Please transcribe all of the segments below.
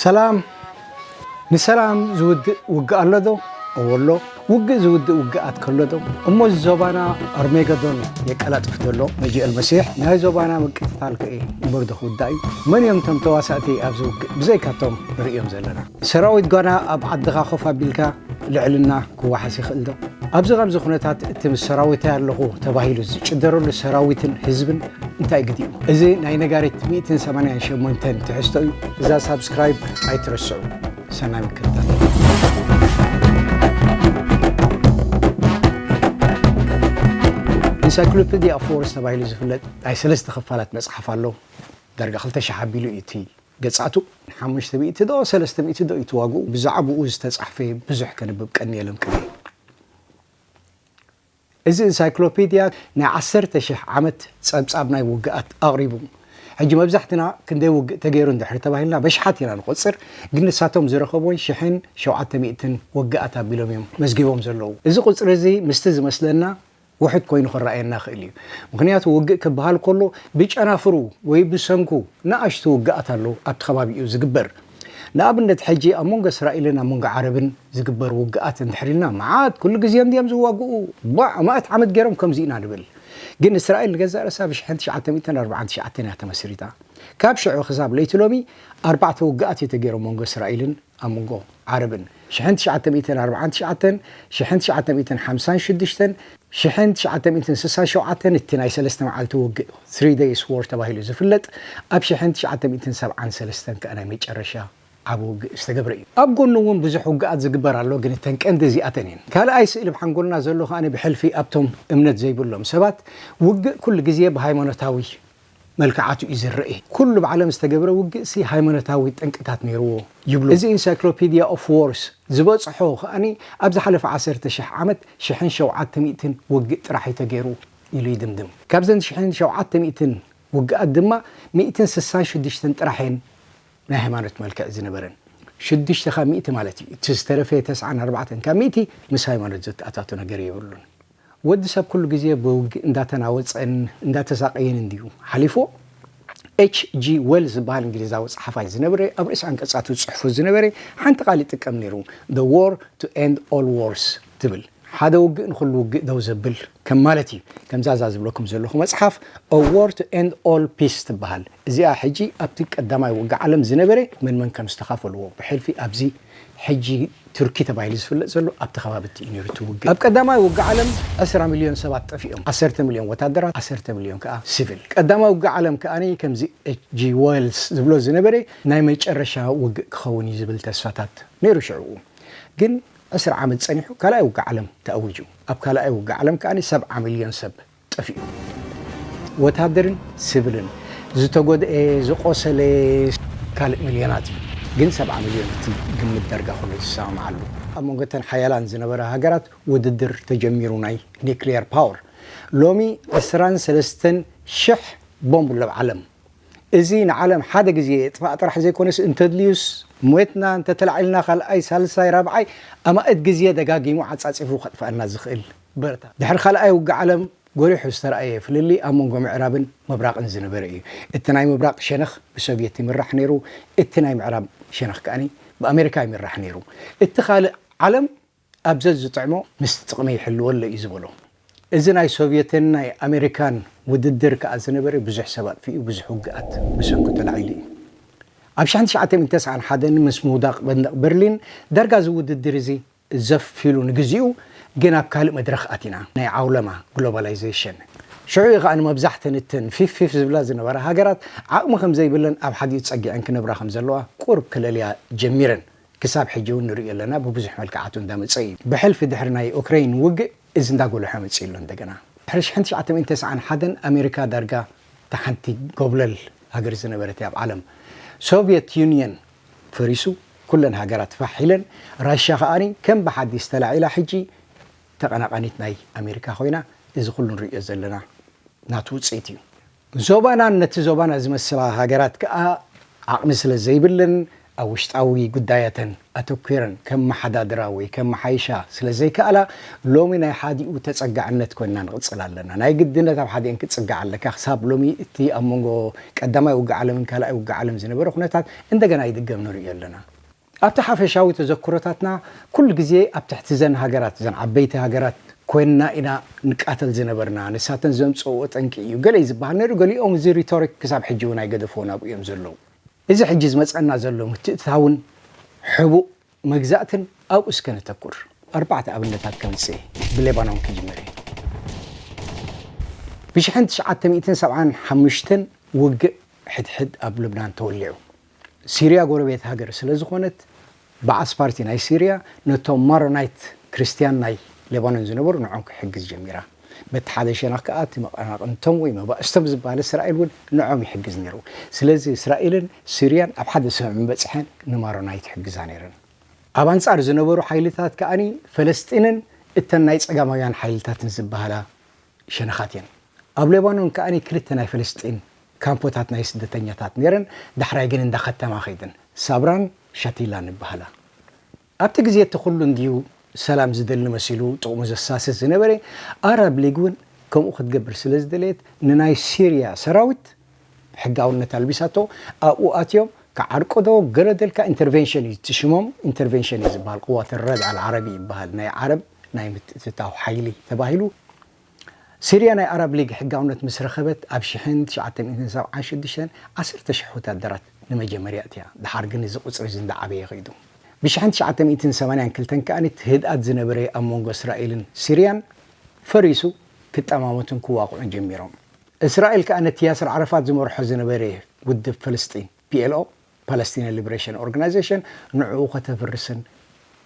ሰላም ንሰላም ዝውድእ ውግእ ኣሎ ዶ? እዎ ኣሎ። ውግእ ዝውድእ ውግኣት ከሎ ዶ? እሞ እዚ ዞባና ኣርሜገዶን የቀላጥፍ ዘሎ መጂእ ኣልመሲሕ ናይ ዞባና ምቅትታል ከ እምበር ዶ ክውዳእ እዩ? መን እዮም እቶም ተዋሳእቲ ኣብዚ ውግእ ብዘይካቶም ንርእዮም ዘለና? ሰራዊት ጓና ኣብ ዓድኻ ኮፍ ኣቢልካ ልዕልና ክወሓስ ይኽእል ዶ? ኣብዚ ከምዚ ኩነታት እቲ ምስ ሰራዊተይ ኣለኹ ተባሂሉ ዝጭደረሉ ሰራዊትን ህዝብን እንታይ ግዲኡ? እዚ ናይ ነጋሪት ሚእትን ሰማንያን ሸሞንተን ትሕዝቶ እዩ። እዛ ሳብስክራይብ ኣይትረስዑ። ሰናይ ምክትታል። ኢንሳይክሎፒድያ ኦፍ ዎርስ ተባሂሉ ዝፍለጥ ናይ ሰለስተ ክፋላት መጽሓፍ ኣሎ። ዳርጋ ክልተ ሽሕ ኣቢሉ እዩ እቲ ገጻቱ ሓሙሽተ ሚእቲ ዶ ሰለስተ ሚእቲ ዶ እዩ እቲ ዋግኡ ብዛዕብኡ ዝተጻሕፈ ብዙሕ ከንብብ ቀንየ ለንቅነ እየ። እዚ እንሳይክሎፒድያ ናይ ዓሰርተ ሽሕ ዓመት ጸብጻብ ናይ ውግኣት ኣቕሪቡ። ሕጂ መብዛሕትና ክንደይ ውግእ ተገይሩ እንድሕሪ ተባሂልና በሽሓት ኢና ንቖጽር ግን ንሳቶም ዝረኸቡወን ሽሕን ሸውዓተ ሚእትን ውግኣት ኣቢሎም እዮም መዝጊቦም ዘለዉ። እዚ ቁጽሪ እዚ ምስቲ ዝመስለና ውሑድ ኮይኑ ክረኣየና ይኽእል እዩ። ምኽንያቱ ውግእ ክበሃል ከሎ ብጨናፍሩ ወይ ብሰንኩ ንኣሽቱ ውግኣት ኣሎ ኣብቲ ከባቢኡ ዝግበር። ንኣብነት ሕጂ ኣብ መንጎ እስራኤልን ኣብ መንጎ ዓረብን ዝግበር ውግኣት እንድሕር ኢልና መዓት ኩሉ ግዜ እንድዮም ዝዋግኡ ባእ መእት ዓመት ገይሮም ከምዚ ኢና ንብል። ግን እስራኤል ንገዛእ ርእሳ ብ ሽሕን ትሽዓተ ሚእትን ኣርብዓን ትሽዓተን እያ ተመስሪታ። ካብ ሽዑ ክሳብ ለይቲ ሎሚ ኣርባዕተ ውግኣት እዩ ተገይሩ ኣብ መንጎ እስራኤልን ኣብ መንጎ ዓረብን። ሽሕን ትሽዓተ ሚእትን ኣርብዓን ትሽዓተን፣ ሽሕን ትሽዓተ ሚእትን ሓምሳን ሽዱሽተን፣ ሽሕን ትሽዓተ ሚእትን ስሳን ሸውዓተን እቲ ናይ ሰለስተ መዓልቲ ውግእ፣ Three Days War፣ ተባሂሉ ዝፍለጥ፣ ኣብ ሽሕን ትሽዓተ ሚእትን ሰብዓን ሰለስተን ከኣ ናይ መጨረሻ ዓቢ ውግእ ዝተገብረ እዩ። ኣብ ጎኑ እውን ብዙሕ ውግኣት ዝግበር ኣሎ፣ ግን እተን ቀንዲ እዚኣተን እየን። ካልኣይ ስእሊ ብ ሓንጎልና ዘሎ ከኣ ብሕልፊ ኣብቶም እምነት ዘይብሎም ሰባት ውግእ ኩሉ ግዜ ብሃይማኖታዊ መልክዓቱ እዩ ዝረኤ። ኩሉ ኣብ ዓለም ዝተገብረ ውግእሲ ሃይማኖታዊ ጠንቅታት ነይርዎ ይብሉ። እዚ ኢንሳይክሎፒድያ ኦፍ ዎርስ ዝበጽሖ ከኣ ኣብ ዝሓለፈ ዓሰርተ ሽሕ ዓመት ሽሕን ሸውዓተ ሚእትን ውግእ ጥራሕ እዩ ተገይሩ ኢሉ ይድምድም። ካብዘን ሽሕን ሸውዓተ ሚእትን ውግኣት ድማ ሚእትን ስሳን ሽዱሽተን ጥራሕ እየን ናይ ሃይማኖት መልክዕ ዝነበረን። ሽዱሽተ ካብ ሚእቲ ማለት እዩ። እቲ ዝተረፈ ተስዓን ኣርባዕተን ካብ ሚእቲ ምስ ሃይማኖት ዘተኣታቶ ነገር የብሉን። ወዲ ሰብ ኩሉ ግዜ ብውግእ እንዳተናወጸን እንዳተሳቀየን እንድዩ ሓሊፉ ኤች ጂ ወል ዝብሃል እንግሊዛዊ ጸሓፋይ ዝነበረ ኣብ ርእሲ ኣንቀጻቱ ዝጽሕፎ ዝነበረ ሓንቲ ቃል ይጥቀም ኔሩ the war to end all wars ትብል ሓደ ውግእ ንኹሉ ውግእ ደው ዘብል ከም ማለት እዩ ከምዛ እዛ ዝብለኩም ዘለኹ መጽሓፍ a war to end all peace ትብሃል እዚኣ ሕጂ ኣብቲ ቀዳማይ ውግእ ዓለም ዝነበረ መን መን ከም ዝተኻፈልዎ ብሕልፊ ኣብዚ ሕጂ ቱርኪ ተባሂሉ ዝፍለጥ ዘሎ ኣብቲ ከባቢቲ እዩ ነይሩ እቲ ውግእ። ኣብ ቀዳማይ ውግእ ዓለም ዕስራ ሚልዮን ሰባት ጠፊኦም፣ ዓሰርተ ሚልዮን ወታደራት ዓሰርተ ሚልዮን ከኣ ሲቪል። ቀዳማይ ውግእ ዓለም ከኣ ከምዚ ኤች ጂ ወልስ ዝብሎ ዝነበረ ናይ መጨረሻ ውግእ ክኸውን እዩ ዝብል ተስፋታት ነይሩ ሽዕኡ። ግን ዕስራ ዓመት ጸኒሑ ካልኣይ ውግእ ዓለም ተኣዊጁ። ኣብ ካልኣይ ውግእ ዓለም ከኣ ሰብዓ ሚልዮን ሰብ ጠፊኡ ወታደርን ስብልን ዝተጎድኤ ዝቆሰለ ካልእ ምልዮናት እዩ ግን ሰብዓ ምልዮን እቲ ግምት ደርጋ ኩሉ ዝሰማማዓሉ። ኣብ መንጎ እተን ሓያላን ዝነበራ ሃገራት ውድድር ተጀሚሩ ናይ ኒክልየር ፓወር ሎሚ ዕስራን ሰለስተን ሽሕ ቦምብ ሎብ ዓለም እዚ ንዓለም ሓደ ግዜ የጥፋእ ጥራሕ ዘይኮነስ እንተድልዩስ ሞትና እንተተላዒልና ካልኣይ ሳልሳይ ራብዓይ ኣማእት ግዜ ደጋጊሙ ዓጻጺፉ ከጥፈኣና ዝኽእል በርታ። ድሕሪ ካልኣይ ውግእ ዓለም ጎሊሑ ዝተራእየ ፍልልይ ኣብ መንጎ ምዕራብን ምብራቕን ዝነበረ እዩ። እቲ ናይ ምብራቕ ሸነኽ ብሶቭየት ይምራሕ ነይሩ፣ እቲ ናይ ምዕራብ ሸነኽ ከኣ ብኣመሪካ ይምራሕ ነይሩ። እቲ ካልእ ዓለም ኣብ ዘዝጥዕሞ ምስ ጥቕሚ ይሕልወለይ እዩ ዝበሎ። እዚ ናይ ሶቭየትን ናይ ኣመሪካን ውድድር ከኣ ዝነበረ ብዙሕ ሰብ ኣጥፊኡ፣ ብዙሕ ውግኣት ብሰንኩ ተላዒሉ እዩ። ኣብ ሽሕን ትሽዓተን ሚእትን ተስዓን ሓደን ምስ ምውዳቕ መንደቕ በርሊን ዳርጋ እዚ ውድድር እዚ ዘፍ ኢሉ ንግዚኡ ግን ኣብ ካልእ መድረኽ ኣቲና፣ ናይ ዓውለማ፣ ግሎባላይዘሽን። ሽዑ እዩ ከኣ መብዛሕተን እተን ፊፍ ፊፍ ዝብላ ዝነበራ ሃገራት ዓቕሚ ከም ዘይብለን ኣብ ሓዲኡ ጸጊዐን ክነብራ ከም ዘለዋ ቁሩብ ክለልያ ጀሚረን። ክሳብ ሕጂ እውን ንርእዮ ኣለና ብብዙሕ መልክዓቱ እንዳ መጸ እዩ። ብሕልፊ ድሕሪ ናይ ኡክረይን ውግእ እዚ እንዳ ጎለሐ መጺኡ ኣሎ እንደገና። ድሕሪ ሽሕን ትሽዓተ ሚእትን ተስዓን ሓደን ኣሜሪካ ዳርጋ እታ ሓንቲ ጎብለል ሃገር ዝነበረት እያ ኣብ ዓለም። ሶቭየት ዩንየን ፈሪሱ ኩለን ሃገራት ፋሕ ኢለን ራሻ ከኣ ከም ብሓዲስ ተላዒላ ሕጂ ተቀናቃኒት ናይ ኣሜሪካ ኮይና እዚ ኩሉ ንርእዮ ዘለና ናቱ ውጽኢት እዩ። ዞባናን ነቲ ዞባና ዝመስላ ሃገራት ከኣ ዓቅሚ ስለ ዘይብለን ኣብ ውሽጣዊ ጉዳያተን ኣተኲረን ከመሓዳድራ ወይ ከመሓይሻ ስለ ዘይከኣላ ሎሚ ናይ ሓዲኡ ተጸጋዕነት ኮይንና ንቅጽል ኣለና። ናይ ግድነት ኣብ ሓዲኤን ክትጽጋዕ ኣለካ ክሳብ ሎሚ እቲ ኣብ መንጎ ቀዳማይ ውግእ ዓለምን ካልኣይ ውግእ ዓለም ዝነበረ ኩነታት እንደገና ይድገም ንርእዮ ኣለና። ኣብቲ ሓፈሻዊ ተዘክሮታትና ኩሉ ግዜ ኣብ ትሕቲ ዘን ሃገራት፣ ዘን ዓበይቲ ሃገራት፣ ኮይንና ኢና ንቃተል ዝነበርና፣ ንሳተን ዘምጸእኦ ጠንቂ እዩ ገለ'ዩ ዝበሃል ነይሩ፣ ገሊኦም እዚ ሪቶሪክ ክሳብ ሕጂ'ውን ኣይገደፍዎን ኣብኡ እዮም ዘለዉ። እዚ ሕጂ ዝመጸና ዘሎ ምትእትታውን ሕቡእ መግዛእትን ኣብኡ እስከ ነተኩር። ኣርባዕተ ኣብነታት ከምጽእ እየ። ብሌባኖን ክጅምር እየ። ብሽሕን ትሽዓተ ሚእትን ሰብዓን ሓሙሽተን ውግእ ሕድሕድ ኣብ ልብናን ተወሊዑ። ሲርያ ጎረቤት ሃገር ስለ ዝኾነት ባዓስ ፓርቲ ናይ ሲርያ ነቶም ማሮናይት ክርስትያን ናይ ሌባኖን ዝነበሩ ንዖም ክሕግዝ ጀሚራ። በቲ ሓደ ሸነኽ ከኣ እቲ መቐናቕንቶም ወይ መባእስቶም ዝብሃል እስራኤል እውን ንዖም ይሕግዝ ነይሩ። ስለዚ እስራኤልን ስርያን ኣብ ሓደ ስምምዕ ምበጽሐን ንማሮናይት ይሕግዛ ነይረን። ኣብ ኣንጻር ዝነበሩ ሓይልታት ከኣ ፈለስጢንን እተን ናይ ጸጋማውያን ሓይልታትን ዝብሃላ ሸነኻት እየን። ኣብ ሌባኖን ከኣ ክልተ ናይ ፈለስጢን ካምፖታት ናይ ስደተኛታት ነይረን፣ ዳሕራይ ግን እንዳ ከተማ ከይደን። ሳብራን ሻቲላን ይብሃላ። ኣብቲ ግዜ እቲ ኩሉ እንድዩ ሰላም ዝደሊ መሲሉ ጥቕሙ ዘሳስት ዝነበረ፣ ኣራብ ሊግ እውን ከምኡ ክትገብር ስለ ዝደለየት ንናይ ሲርያ ሰራዊት ሕጋውነት ኣልቢሳቶ፣ ኣብኡ ኣትዮም ክዓርቁዶ ገለ ደልካ ኢንተርቬንሽን እዩ እቲ ሽሞም ኢንተርቬንሽን እዩ ዝበሃል ቁዋት ኣልረድ ኣልዓረቢ ይበሃል ናይ ዓረብ ናይ ምትእትታው ሓይሊ ተባሂሉ፣ ሲርያ ናይ ኣራብ ሊግ ሕጋውነት ምስ ረኸበት ኣብ ሽሕን ትሽዓተ ሚእትን ሰብዓን ሽዱሽተን ዓሰርተ ሽሕ ወተሃደራት ንመጀመርያ ኣእትያ፣ ደሓር ግን እዚ ቁጽሪ እዚ እንዳዓበየ ከይዱ። ብሽሕን ትሽዓተ ሚእትን ሰማንያን ክልተን ከኣ እቲ ህድኣት ዝነበረ ኣብ መንጎ እስራኤልን ሲርያን ፈሪሱ ክጠማመቱን ክዋቕዑን ጀሚሮም። እስራኤል ከኣ ነቲ ያስር ዓረፋት ዝመርሖ ዝነበረ ውድብ ፍልስጢን፣ PLO፣ ፓለስቲንያን ሊብሬሽን ኦርጋናይዜሽን ንዕኡ ከተፍርስን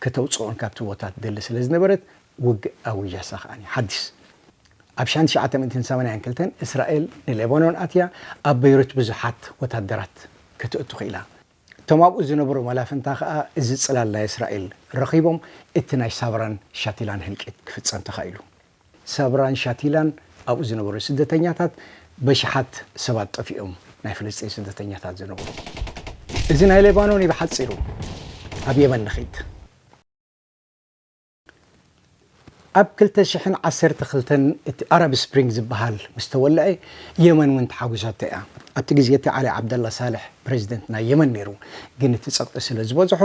ከተውጽኦን ካብቲ ቦታ ትደሊ ስለ ዝነበረት ውግእ ኣዊጃሳ ከኣ ሓዲስ ኣብ ሻን ትሽዓተ ሚእትን ሰማንያን ክልተን እስራኤል ንሌባኖን ኣትያ ኣብ በይሩት ብዙሓት ወታደራት ከተእቱ ክኢላ። እቶም ኣብኡ ዝነበሩ መላፍንታ ከኣ እዚ ጽላል ናይ እስራኤል ረኺቦም እቲ ናይ ሳብራን ሻቲላን ህልቂት ክፍጸም ተኻኢሉ። ሳብራን ሻቲላን ኣብኡ ዝነበሩ ስደተኛታት በሽሓት ሰባት ጠፊኦም ናይ ፍልስጤን ስደተኛታት ዝነብሩ እዚ ናይ ሌባኖን እዩ ብሓጺሩ ኣብ የመን ንኺድ ኣብ ክልተ ሽሕን ዓሰርተ ክልተን እቲ ኣረብ ስፕሪንግ ዝበሃል ምስ ተወልዐ የመን እውን ተሓጒሳቶ እያ ኣብቲ ግዜ እቲ ዓሊ ዓብደላ ሳልሕ ፕሬዚደንት ናይ የመን ነይሩ ግን እቲ ጸቕጢ ስለ ዝበዝሖ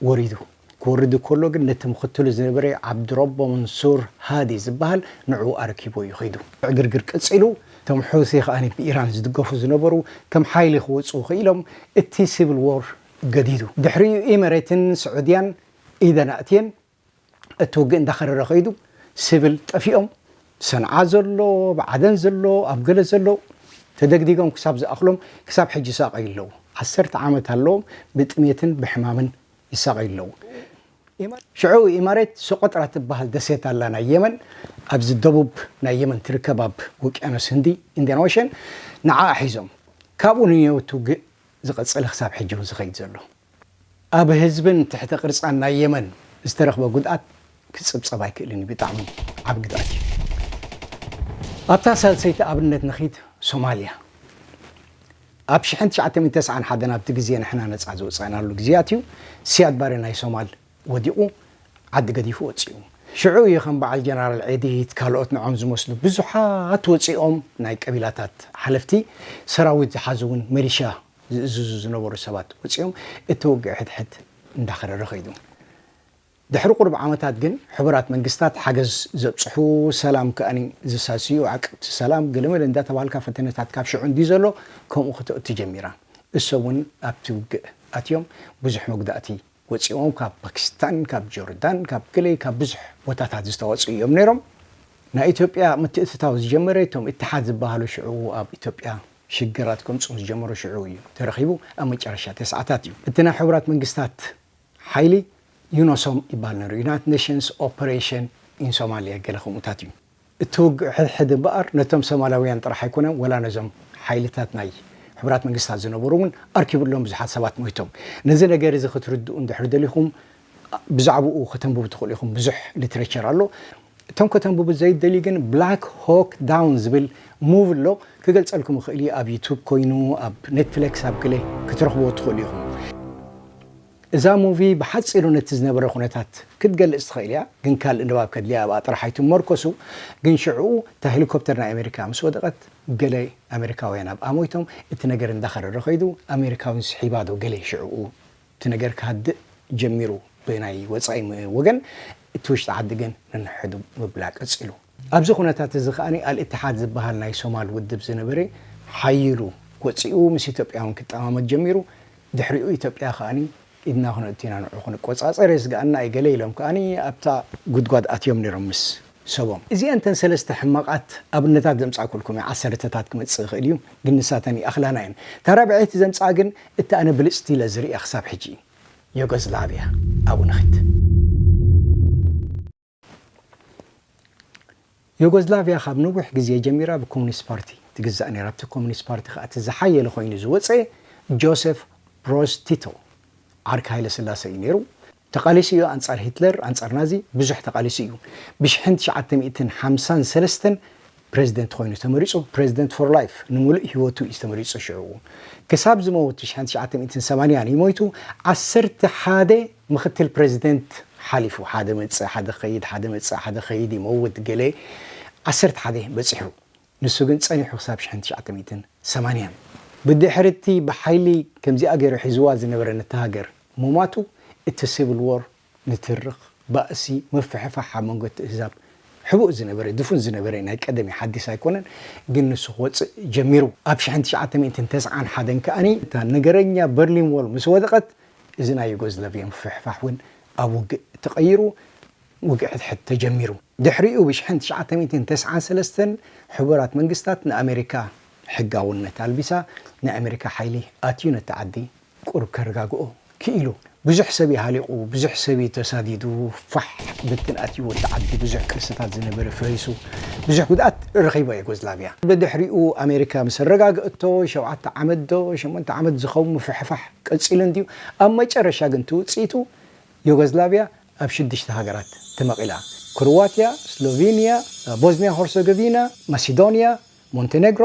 ወሪዱ ክወርድ እከሎ ግን ነቲ ምኽትሉ ዝነበረ ዓብዱረቦ መንሱር ሃዲ ዝበሃል ንዕኡ ኣረኪቡ እዩ ከይዱ። ዕግርግር ቀጺሉ፣ እቶም ሑቲ ከኣ ብኢራን ዝድገፉ ዝነበሩ ከም ሓይሊ ክወጽኡ ክኢሎም፣ እቲ ሲቪል ዎር ገዲዱ። ድሕሪኡ ኢመሬትን ስዑድያን ኢደን ኣእትየን። እቲ ውግእ እንዳኸረረ ከይዱ ስብል ጠፊኦም ሰንዓ ዘሎ ኣብ ዓደን ዘሎ ኣብ ገለ ዘሎ ተደግዲጎም ክሳብ ዝኣኽሎም ክሳብ ሕጂ ይሳቐዩ ኣለዉ ዓሰርተ ዓመት ኣለዎም ብጥሜትን ብሕማምን ይሳቐዩ ኣለዉ ሽዑ ኢማሬት ሶቆጥራ ትበሃል ደሴት ኣላ ናይ የመን ኣብዚ ደቡብ ናይ የመን ትርከብ ኣብ ውቅያኖስ ህንዲ ኢንድያን ኦሸን ንዓኣ ሒዞም ካብኡ ንየው እቲ ውግእ ዝቐጸለ ክሳብ ሕጂ ውን ዝኸይድ ዘሎ ኣብ ህዝብን ትሕተ ቅርጻን ናይ የመን ዝተረኽበ ጉድኣት ክጽብጸብ ኣይክእልን እዩ፣ ብጣዕሚ ዓቢ ግድኣት እዩ። ኣብታ ሳልሰይቲ ኣብነት ንኺድ፣ ሶማልያ ኣብ ሽሕን ትሽዓተ ሚእትን ተስዓን ሓደን ኣብቲ ግዜ ንሕና ነጻ ዝወጻእናሉ ግዜያት እዩ፣ ሲያድ ባሬ ናይ ሶማል ወዲቑ ዓዲ ገዲፉ ወጺኡ። ሽዑ እዩ ከም በዓል ጀነራል ዒዲት ካልኦት ንዖም ዝመስሉ ብዙሓት ወጺኦም ናይ ቀቢላታት ሓለፍቲ፣ ሰራዊት ዝሓዙ እውን ሚሊሻ ዝእዝዙ ዝነበሩ ሰባት ወጺኦም እቲ ውግእ ሕድሕድ እንዳኸረረ ከይዱ። ድሕሪ ቁሩብ ዓመታት ግን ሕቡራት መንግስታት ሓገዝ ዘብጽሑ ሰላም ከኣ ዘሳስዩ ዓቀብቲ ሰላም ገለመለ እንዳተባሃልካ ፈተነታት ካብ ሽዑ እንድዩ ዘሎ ከምኡ ክተእቱ ጀሚራ። እሶም ውን ኣብቲ ውግእ ኣትዮም ብዙሕ መጉዳእቲ ወጺኦም ካብ ፓኪስታን ካብ ጆርዳን ካብ ገለ ካብ ብዙሕ ቦታታት ዝተወጹ እዮም ነይሮም ናይ ኢትዮጵያ ምትእትታው ዝጀመረ እቶም ኢትሓድ ዝባሃሉ ሽዑ ኣብ ኢትዮጵያ ሽግራት ከምጹ ዝጀመሩ ሽዑ እዩ ተረኺቡ ኣብ መጨረሻ ተስዓታት እዩ እቲ ናይ ሕቡራት መንግስታት ሓይሊ ዩኖሶም ይባሃል ነይሩ ዩናይትድ ኔሽንስ ኦፐሬሽን ኢን ሶማሊያ ገለ ከምኡታት እዩ። እቲ ውግእ ሕድሕድ እምበኣር ነቶም ሶማላውያን ጥራሕ ኣይኮነን ወላ ነዞም ሓይልታት ናይ ሕቡራት መንግስታት ዝነበሩ እውን ኣርኪቡሎም ብዙሓት ሰባት ሞይቶም። ነዚ ነገር እዚ ክትርድኡ እንድሕሪ ደሊኹም ብዛዕብኡ ከተንብቡ ትኽእሉ ኢኹም ብዙሕ ሊትረቸር ኣሎ። እቶም ከተንብቡ ዘይትደልዩ ግን ብላክ ሆክ ዳውን ዝብል ሙቭ ኣሎ ክገልጸልኩም እኽእል እየ ኣብ ዩቱብ ኮይኑ ኣብ ኔትፍለክስ ኣብ ገለ ክትረኽብዎ ትኽእሉ ኢኹም። እዛ ሙቪ ብሓጺሩ ነቲ ዝነበረ ኩነታት ክትገልጽ ትኽእል ኢያ ግን ካልእ ንባብ ከድልያ ኣብኣ ጥራሕ ኣይትመርኮሱ ግን ሽዑኡ እታ ሄሊኮፕተር ናይ ኣሜሪካ ምስ ወደቐት ገለ ኣሜሪካውያን ኣብኣ ሞይቶም እቲ ነገር እንዳኸረረ ከይዱ ኣሜሪካውያን ስሒባ ዶ ገለ ሽዑኡ እቲ ነገር ክሃድእ ጀሚሩ ብናይ ወጻኢ ወገን እቲ ውሽጢ ዓዲ ግን ንንሕዱ ምብላ ቀጺሉ። ኣብዚ ኩነታት እዚ ከኣ ኣልእትሓድ ዝበሃል ናይ ሶማል ውድብ ዝነበረ ሓዪሉ ወጺኡ ምስ ኢትዮጵያውን ክጠማመት ጀሚሩ። ድሕሪኡ ኢትዮጵያ ከኣ ኢድና ክነእቱ ኢና ንዑ ክንቆጻጸር የስግኣና እዩ ገለ ኢሎም ከኣ ኣብታ ጉድጓድ ኣትዮም ነይሮም ምስ ሰቦም። እዚኣን እተን ሰለስተ ሕማቓት ኣብነታት ዘምጻእኩልኩም እየ። ዓሰርተታት ክመጽእ ይኽእል እዩ ግን ንሳተን ይኣኽላና እየን። እታ ራብዐይቲ ዘምጽኣ ግን እታ ኣነ ብልጽቲ ኢለ ዝርእያ ክሳብ ሕጂ ዮጎዝላቭያ ኣብኡ ንኺድ። ዩጎዝላቪያ ካብ ነዊሕ ግዜ ጀሚራ ብኮሙኒስት ፓርቲ ትግዛእ ነይራ። ኣብቲ ኮሙኒስት ፓርቲ ከኣ እቲ ዝሓየለ ኮይኑ ዝወጸ ጆሴፍ ብሮዝ ቲቶ ዓርኪ ሃይለስላሰ እዩ ነይሩ። ተቓሊሱ እዩ ኣንጻር ሂትለር ኣንጻር ናዚ ብዙሕ ተቓሊሱ እዩ። ብሽሕን ትሽዓተ ሚእትን ሓምሳን ሰለስተን ፕረዚደንት ኮይኑ ተመሪጹ፣ ፕረዚደንት ፎር ላይፍ፣ ንምሉእ ህይወቱ እዩ ተመሪጹ ሽዑ ክሳብ ዝመውት ትሽዓን ትሽዓተ ሚእትን ሰማንያን እዩ ሞይቱ ዓሰርተ ሓደ ምኽትል ፕረዚደንት ሓሊፉ ሓደ መጽእ ሓደ ክኸይድ ሓደ መጽእ ሓደ ክኸይድ ይመውት ገለ ዓሰርተ ሓደ በጺሑ ንሱ ግን ጸኒሑ ክሳብ ሽሕን ትሽዓተ ሚእትን ሰማንያን ብድሕሪቲ ብሓይሊ ከምዚኣ ገይሩ ሒዝዋ ዝነበረ ነታ ሃገር ምሟቱ እቲ ሲቭል ዎር ንትርኽ ባእሲ ምፍሕፋሕ ኣብ መንጎ እቲ እህዛብ ሕቡእ ዝነበረ ድፉን ዝነበረ ናይ ቀደም እዩ ሓዲስ ኣይኮነን ግን ንሱ ክወጽእ ጀሚሩ ኣብ ሽሕን ትሽዓተ ሚእትን ተስዓን ሓደን ከኣ እታ ነገረኛ በርሊን ዎል ምስ ወደቐት እዚ ናይ ዩጎዝላቪያ ምፍሕፋሕ ውን ኣብ ውግእ ተቐይሩ ውግእ ሕድሕድ ተጀሚሩ ድሕሪኡ ብ ሽሕን ትሽዓተ ሚእትን ተስዓን ሰለስተን ሕቡራት መንግስታት ንኣመሪካ ሕጋውነት ኣልቢሳ ናይ ኣመሪካ ሓይሊ ኣትዩ ነታ ዓዲ ቁሩብ ከረጋግኦ ኪኢሉ። ብዙሕ ሰብ እዩ ሃሊቑ፣ ብዙሕ ሰብ እዩ ተሳዲዱ፣ ፋሕ ብትን ኣትይዎ እቲ ዓዲ፣ ብዙሕ ቅርስታት ዝነበረ ፈሪሱ፣ ብዙሕ ጉድኣት ረኺባ ዩጎዝላቪያ። ብድሕሪኡ ኣሜሪካ ምስ ኣረጋግኣቶ ሸውዓተ ዓመት ዶ ሸሞንተ ዓመት ዝኸውን ምፍሕፋሕ ቀጺሉ እንድዩ፣ ኣብ መጨረሻ ግን እቲ ውጽኢቱ ዩጎዝላቪያ ኣብ ሽዱሽተ ሃገራት ተመቒላ፣ ክሩዋቲያ፣ ስሎቪኒያ፣ ቦዝኒያ ሆርሰገቪና፣ ማሲዶኒያ፣ ሞንተነግሮ፣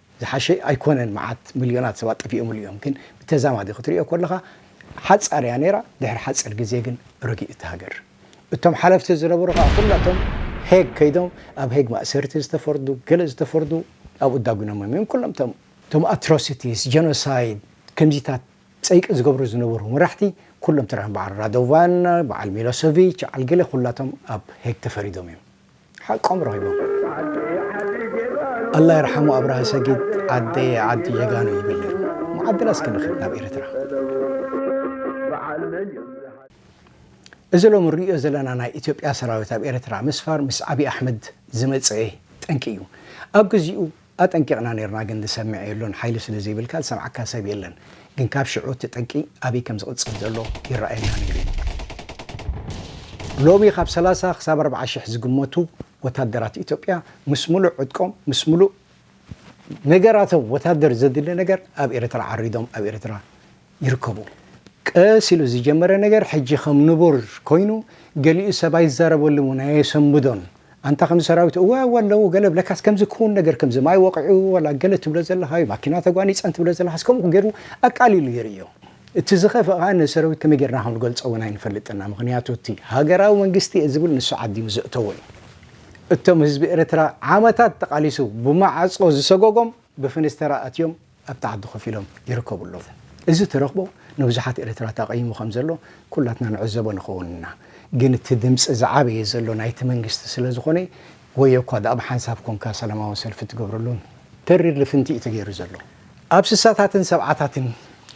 ዝሓሸ ኣይኮነን መዓት ምልዮናት ሰባት ጠፊኦምሉ እዮም ግን ብተዛማዲ ክትሪኦ ከለኻ ሓጻር እያ ኔራ ድሕሪ ሓጺር ግዜ ግን ረጊኡ እቲ ሃገር እቶም ሓለፍቲ ዝነበሩ ከኣ ኩላቶም ሄግ ከይዶም ኣብ ሄግ ማእሰርቲ ዝተፈርዱ ገለ ዝተፈርዱ ኣብኡ ዳጉኖሞም እዮም ኩሎም እቶም እቶም ኣትሮሲቲስ ጀኖሳይድ ከምዚታት ጸይቂ ዝገብሩ ዝነበሩ መራሕቲ ኩሎም ተራእዮም በዓል ራዶቫን በዓል ሚሎሰቪች በዓል ገለ ኩላቶም ኣብ ሄግ ተፈሪዶም እዮም። ሓቆም ረኺቦም ኣላ ይርሓሙ ኣብራሃ ሰጊድ ዓደየ ዓዲ ጀጋኑ ይብል ነይሩ መዓድላ እስኪ ንኺድ ናብ ኤርትራ። እዚ ሎሚ ንርእዮ ዘለና ናይ ኢትዮጵያ ሰራዊት ኣብ ኤርትራ ምስፋር ምስ ዓቢ ኣሕመድ ዝመጸኤ ጠንቂ እዩ ኣብ ግዚኡ ኣጠንቂቅና ኔርና ግን ዝሰምዕ የሎን ሓይሊ ስለ ዘይብልካ ዝሰምዓካ ሰብ የለን ግን ካብ ሽዑ እቲ ጠንቂ ኣበይ ከም ዝቅጽል ዘሎ ይረኣየና ኔሩ ዩ። ሎሚ ካብ ሰላሳ ክሳብ ኣርብዓ ሽሕ ዝግመቱ ወታደራት ኢትዮጵያ ምስ ምሉእ ዕጥቆም ምስ ምሉእ ነገራቶም ወታደር ዘድሊ ነገር ኣብ ኤርትራ ዓሪዶም ኣብ ኤርትራ ይርከቡ። ቀስ ኢሉ ዝጀመረ ነገር ሕጂ ከም ንቡር ኮይኑ ገሊኡ ሰብ ኣይዛረበሉን ውን ኣየሰምብዶን ኣንታ ከምዚ ሰራዊት እወ እወ ኣለዉ ገለ ለካስ ከምዚ ክዉን ነገር ከምዚ ማይ ወቂዑ ወላ ገለ ትብሎ ዘለካዩ ማኪና ተጓኒጸን ትብሎ ዘለካስ ከምኡ ጌሩ ኣቃሊሉ የርእዮ እቲ ዝኸፍእ ከኣ ነዚ ሰራዊት ከመይ ጌርና ከም ንገልጾ ውን ኣይንፈልጥን እና ምክንያቱ እቲ ሃገራዊ መንግስቲ እየ ዝብል ንሱ ዓዲሙ ዘእተዎ እዩ እቶም ህዝቢ ኤርትራ ዓመታት ተቃሊሱ ብማዓጾ ዝሰጎጎም ብፍንስተራ ኣትዮም ኣብታ ዓዲ ኮፍ ኢሎም ይርከቡ ኣለዉ። እዚ ተረኽቦ ንብዙሓት ኤርትራውት ኣቐይሙ ከም ዘሎ ኩላትና ንዕዘቦ ንኸውን ኢና። ግን እቲ ድምጺ ዝዓበየ ዘሎ ናይቲ መንግስቲ ስለ ዝኾነ ወዮ እኳ ድኣ ብሓንሳብ ኮንካ ሰላማዊ ሰልፊ ትገብረሉን ተሪር ልፍንቲ እዩ ተገይሩ ዘሎ። ኣብ ስሳታትን ሰብዓታትን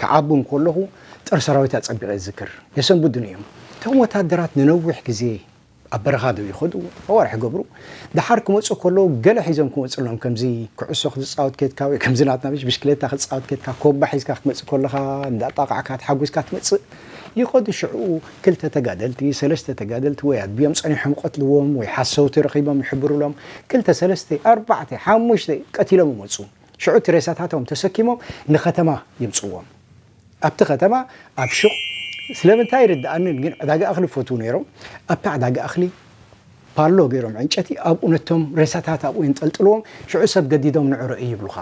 ክዓቢ እንከለኹ ጦር ሰራዊት ኣጸቢቐ እዝክር። የሰንብዱኒ እዮም። እቶም ወተሃደራት ንነዊሕ ግዜ ኣብ በረኻ ዶ ይኸዱ ኣዋርሕ ይገብሩ ደሓር ክመጹ ከለዉ ገለ ሒዞም ክመጹ ኣለዎም ከምዚ ኩዕሶ ክትጻወት ኬድካ ወይ ከምዚ ናትና ምሽ ብሽክሌታ ክትጻወት ኬድካ ኮባ ሒዝካ ክትመጽእ ከለኻ እንዳጣቓዕካ ተሓጉስካ ትመጽእ ይኸዱ ሽዑ ክልተ ተጋደልቲ ሰለስተ ተጋደልቲ ወይ ኣድብዮም ጸኒሖም ይቐትልዎም ወይ ሓሰውቲ ረኺቦም ይሕብሩሎም ክልተ ሰለስተ ኣርባዕተ ሓሙሽተ ቀቲሎም ይመጹ ሽዑ እቲ ሬሳታቶም ተሰኪሞም ንከተማ የምጽዎም ኣብቲ ከተማ ኣብ ሹቕ ስለምንታይ ኣይርድኣንን ግን ዕዳጋ እኽሊ ይፈትዉ ነይሮም። ኣብታ ዕዳጋ እኽሊ ፓሎ ገይሮም ዕንጨቲ ኣብኡ ነቶም ሬሳታት ኣብኡ የንጠልጥልዎም ሽዑ ሰብ ገዲዶም ንዑ ርኣይ ይብሉኻ።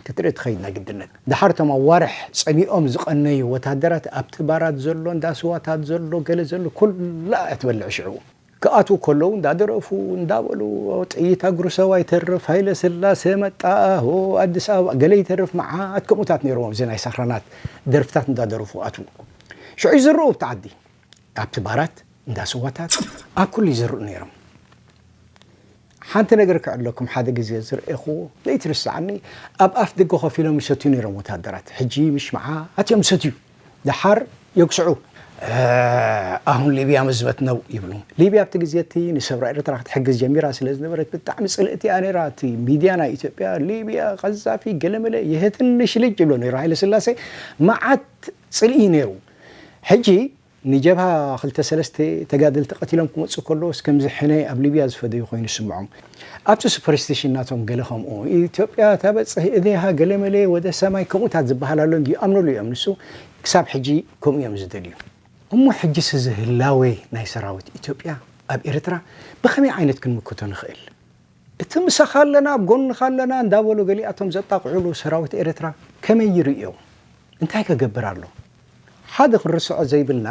ክትርኢ ትኸይድ ናይ ግድነት። ደሓር እቶም ኣዋርሕ ጸሚኦም ዝቐነዩ ወተሃደራት ኣብቲ ባራት ዘሎ እንዳ ስዋታት ዘሎ ገለ ዘሎ ኩላ እያ ትበልዕ ሽዑ። ክኣትዉ ከለዉ እንዳደረፉ እንዳበሉ ጥይት ኣጉርሰው ኣይተርፍ ሃይለስላሰ መጣ ሆ ኣዲስ ኣበባ ገለ ይተርፍ መዓት ከምኡታት ነይሮም ኣብዚ ናይ ሳኽራናት ደርፍታት እንዳደረፉ ክኣትዉ ሽዑ ይዝርኡ ኣብቲ ዓዲ ኣብቲ ባራት እንዳስዋታት ኣብ ኩሉ ይዝርኡ ነይሮም። ሓንቲ ነገር ክዕለኩም ሓደ ግዜ ዝረኤኩዎ ለይትርስዓኒ ኣብ ኣፍ ደገ ኮፍ ኢሎም ይሰትዩ ነይሮም ወታደራት ሕጂ ምሽ ምዓ ኣትዮም ይሰትዩ ደሓር የጉስዑ ኣሁን ሊብያ መዝበት ነው ይብሉ ሊብያ ኣብቲ ግዜ እቲ ንሰብራ ኤርትራ ክትሕግዝ ጀሚራ ስለ ዝነበረት ብጣዕሚ ጽልእቲ እያ ነይራ እቲ ሚድያ ናይ ኢትዮጵያ ሊብያ ቀዛፊ ገለመለ የህትንሽ ልጅ ይብሎ ነይሩ ሃይለ ስላሴ መዓት ጽልኢ ነይሩ ሕጂ ንጀብሃ ክልተ ሰለስተ ተጋደልቲ ቀቲሎም ክመጹ ከለዉስ ከምዚ ሕነ ኣብ ሊብያ ዝፈደዩ ኮይኑ ዝስምዖም ኣብቲ ሱፐርስቲሽን ናቶም ገለ ከምኡ ኢትዮጵያ ተበጽህ እዴሃ ገለመለ ወደ ሰማይ ከምኡታት ዝብሃል ኣሎ እንድዩ ይኣምንሉ እዮም ንሱ ክሳብ ሕጂ ከምኡ እዮም ዝደልዩ። እሞ ሕጂስ እዚ ህላወ ናይ ሰራዊት ኢትዮጵያ ኣብ ኤርትራ ብከመይ ዓይነት ክንምክቶ ንክእል? እቲ ምሳኻ ኣለና ኣብ ጎንኻ ኣለና እንዳበሉ ገሊኣቶም ዘጣቕዕሉ ሰራዊት ኤርትራ ከመይ ይርእዮ? እንታይ ከገብር ኣሎ? ሓደ ክንርስዖ ዘይብልና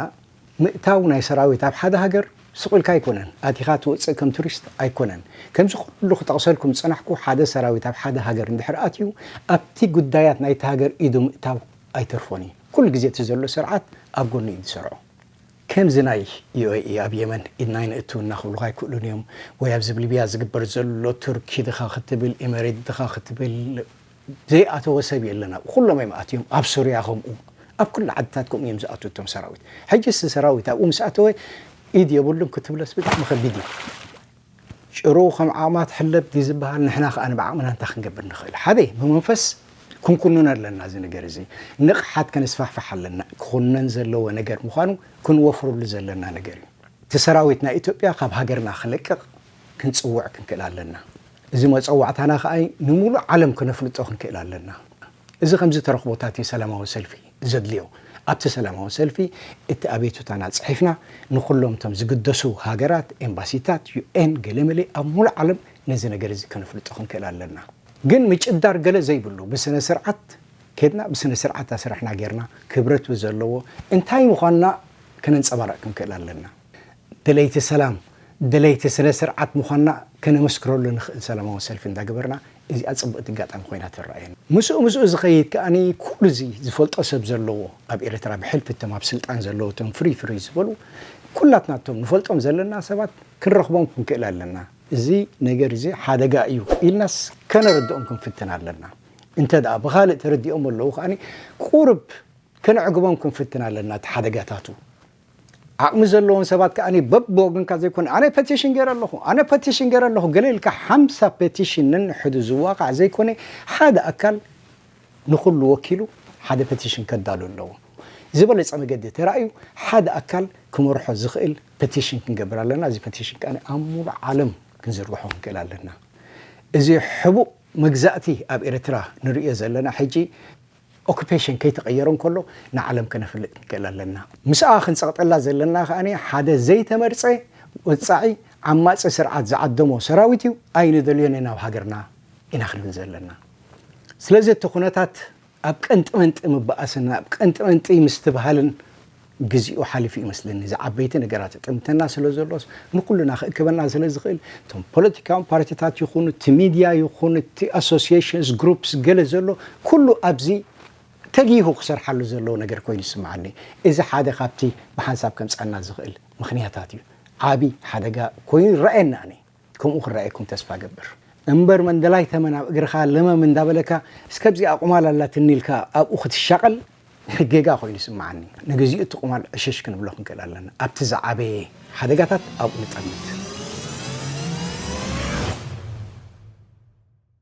ምእታው ናይ ሰራዊት ኣብ ሓደ ሃገር ስቅ ኢልካ ኣይኮነን ኣቲካ ትወጽእ ከም ቱሪስት ኣይኮነን ከምዚ ኩሉ ክጠቅሰልኩም ዝጸናሕኩ ሓደ ሰራዊት ኣብ ሓደ ሃገር እንድሕር ኣትዩ ኣብቲ ጉዳያት ናይቲ ሃገር ኢዱ ምእታው ኣይተርፎን እዩ ኩሉ ግዜ እቲ ዘሎ ስርዓት ኣብ ጎኑ እዩ ዝሰርዖ ከምዚ ናይ ዩኤኢ ኣብ የመን ኢድና ኣይነእቱ እና ክብሉካ ኣይክእሉን እዮም ወይ ኣብዚ ሊብያ ዝግበር ዘሎ ቱርኪ ድካ ክትብል ኢመሬት ድካ ክትብል ዘይኣተወ ሰብ የለን ኣብኡ ኩሎም እዮም ኣትዮም ኣብ ሱርያ ከምኡ ኣብ ኩሉ ዓድታት ከምኡ እዮም ዝኣትዉ እቶም ሰራዊት ሕጅስ እዚ ሰራዊት ኣብኡ ምስ ኣተወ ኢድ የብሉን ክትብለስ ብጣዕሚ ከቢድ እዩ ጭሩ ከም ዓቕማ ትሕለብ ድዩ ዝበሃል ንሕና ከኣ ብዓቕምና እንታይ ክንገብር ንኽእል ሓደ ብመንፈስ ክንኩንኖ ኣለና እዚ ነገር እዚ ንቕሓት ከነስፋሕፍሕ ኣለና ክኹነን ዘለዎ ነገር ምዃኑ ክንወፍረሉ ዘለና ነገር እዩ እቲ ሰራዊት ናይ ኢትዮጵያ ካብ ሃገርና ክለቅቕ ክንጽውዕ ክንክእል ኣለና እዚ መጸዋዕታና ከኣ ንምሉእ ዓለም ክነፍልጦ ክንክእል ኣለና። እዚ ከምዚ ተረኽቦታት እዩ ሰላማዊ ሰልፊ ዘድልዮ። ኣብቲ ሰላማዊ ሰልፊ እቲ ኣቤቱታና ጽሒፍና ንኹሎም እቶም ዝግደሱ ሃገራት፣ ኤምባሲታት፣ ዩኤን፣ ገለመለ ኣብ ምሉእ ዓለም ነዚ ነገር እዚ ከነፍልጦ ክንክእል ኣለና። ግን ምጭዳር ገለ ዘይብሉ ብስነ ስርዓት ኬድና ብስነ ስርዓት ኣስራሕና ጌርና ክብረት ብዘለዎ እንታይ ምዃንና ከነንጸባርቕ ክንክእል ኣለና። ደለይቲ ሰላም፣ ደለይቲ ስነ ስርዓት ምዃንና ከነመስክረሉ ንኽእል ሰላማዊ ሰልፊ እንዳገበርና እዚኣ ጽብቕቲ ኣጋጣሚ ኮይና ትረኣየኒ። ምስኡ ምስኡ ዝኸይድ ከኣ ኩሉ እዚ ዝፈልጦ ሰብ ዘለዎ ኣብ ኤርትራ ብሕልፊ እቶም ኣብ ስልጣን ዘለዉ እቶም ፍርይ ፍርይ ዝበሉ ኩላትና እቶም ንፈልጦም ዘለና ሰባት ክንረኽቦም ክንክእል ኣለና። እዚ ነገር እዚ ሓደጋ እዩ ኢልናስ ከነረድኦም ክንፍትን ኣለና። እንተ ደኣ ብኻልእ ተረዲኦሞ ኣለዉ ከኣ ቁሩብ ከነዕግቦም ክንፍትን ኣለና እቲ ሓደጋታቱ። ዓቕሚ ዘለዎም ሰባት ከኣ በብወገንካ ዘይኮነ ኣነ ፐቲሽን ገይረ ኣለኹ ኣነ ፐቲሽን ገይረ ኣለኹ ገለ ኢልካ ሓምሳ ፐቲሽን ነንሕዱ ዝዋቓዕ ዘይኮነ ሓደ ኣካል ንኹሉ ወኪሉ ሓደ ፐቲሽን ከዳሉ ኣለዎ። ዝበለጸ መገዲ ተራእዩ ሓደ ኣካል ክመርሖ ዝኽእል ፐቲሽን ክንገብር ኣለና። እዚ ፐቲሽን ከኣ ኣብ ሙሉእ ዓለም ክንዝርግሖ ክንክእል ኣለና። እዚ ሕቡእ መግዛእቲ ኣብ ኤርትራ ንርእዮ ዘለና ሕጂ ኦኩፔሽን ከይተቐየረ እንከሎ ንዓለም ከነፍልጥ ክንክእል ኣለና። ምስኣ ክንጸቕጠላ ዘለና ከኣ ሓደ ዘይተመርጸ ወጻዒ ዓማጺ ስርዓት ዝዓደሞ ሰራዊት እዩ፣ ኣይንደልዮን ኢና ኣብ ሃገርና ኢና ክንብል ዘለና። ስለዚ እቲ ኩነታት ኣብ ቀንጢመንጢ ምብኣስን ኣብ ቀንጢመንጢ ምስትብሃልን ግዚኡ ሓሊፉ እዩመስለኒ እዚ ዓበይቲ ነገራት ይጥምተና ስለዘሎስ ንኩልና ክእክበና ስለዝክእል እቶም ፖለቲካዊ ፓርቲታት ይኩኑ እቲ ሚድያ ይኩን እቲ ኣሶስየሽንስ ግሩፕስ ገለ ዘሎ ኩሉ ኣብዚ ተጊሁ ክሰርሓሉ ዘለዎ ነገር ኮይኑ ይስምዓኒ እዚ ሓደ ካብቲ ብሓንሳብ ከምፀኣና ዝክእል ምክንያታት እዩ ዓብይ ሓደጋ ኮይኑ ይረኣየኒ ኣነይ ከምኡ ክረኣየኩም ተስፋ እገብር። እምበር መንደላይ ተመን ኣብ እግርኻ ለመም እንዳበለካ እስከ ኣብዚኣ ቁማል ኣላትኒ ኢልካ ኣብኡ ክትሻቐል ጌጋ ኮይኑ ይስምዓኒ። ንግዚኡ እቲ ቁማል ዕሽሽ ክንብሎ ክንክእል ኣለና። ኣብቲ ዝዓበየ ሓደጋታት ኣብኡ ንጠምት።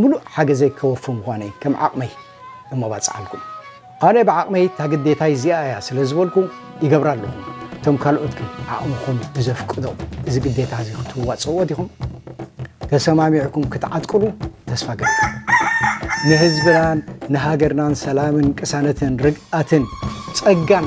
ምሉእ ሓገዘይ ከወፊ ምዃነይ ከም ዓቕመይ እሞባጽዓልኩም። ኣነ ብዓቕመይ እታ ግዴታይ እዚኣ እያ ስለ ዝበልኩ ይገብራ ኣለኹ። እቶም ካልኦት ግን ዓቕምኹም ብዘፍቅዶ እዚ ግዴታ እዚ ክትዋጽእዎ ዲኹም? ተሰማሚዕኩም ክትዓጥቅሉ ተስፋ እገብር። ንህዝብናን ንሃገርናን ሰላምን ቅሳነትን ርግኣትን ጸጋን